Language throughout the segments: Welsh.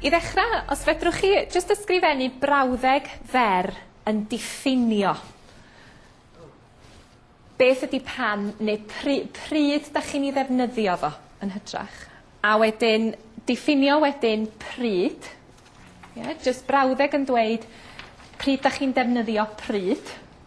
I ddechrau, os fedrwch chi jyst ysgrifennu brawddeg fer yn diffinio beth ydy pan neu pry- pryd da chi'n ei ddefnyddio fo yn hytrach. A wedyn diffinio wedyn pryd. Ie, jyst brawddeg yn dweud pryd da chi'n defnyddio pryd.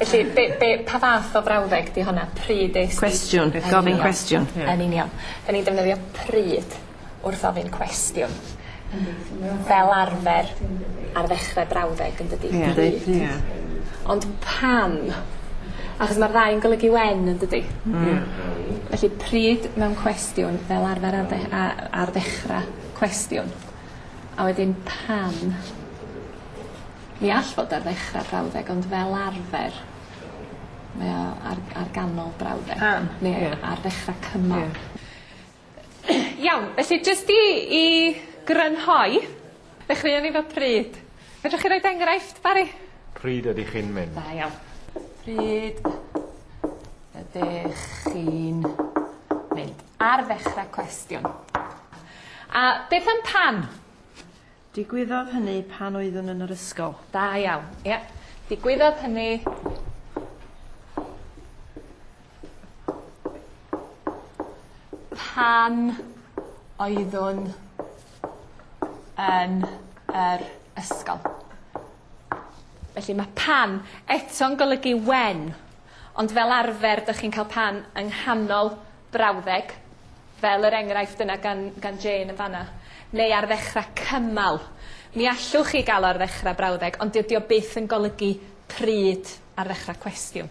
Felly be' be' pa fath o frawddeg 'di honna? Pryd es di... Cwestiwn. Gofyn cwestiwn. Ie. Yn union. 'Dyn ni'n defnyddio pryd wrth ofyn cwestiwn. Yndi. Fel arfer ar ddechre brawddeg yndydi? Ie. Yndi. Ie. Ond pam? Achos ma'r ddau yn golygu when yndydi? Hmm. Ie. Hmm. Felly pryd mewn cwestiwn fel arfer ar dde- a- ar ddechra cwestiwn. A wedyn pam? Mi all fod ar ddechra'r brawddeg ond fel arfer mae o ar ar ganol brawddeg. Pam? Ie. Neu ar ddechra cymal. Ie. Iawn felly jyst i i grynhoi ddechreuon ni 'fo pryd. Fedrwch chi roid enghraifft Bari? Pryd ydych chi'n mynd? Da iawn. Pryd ydych chi'n mynd? Ar ddechra cwestiwn. A beth am pan? Digwyddodd hynny pan oeddwn yn yr ysgol. Da iawn. Ie. Digwyddodd hynny... pan oeddwn yn yr ysgol. Felly mae pan eto'n golygu when, ond fel arfer dych chi'n cael pan yng nghanol brawddeg, fel yr enghraifft yna gan, gan Jane yn fanna, neu ar ddechrau cymal. Mi allwch chi gael o ar ddechrau brawddeg, ond dydy o byth yn golygu pryd ar ddechrau cwestiwn.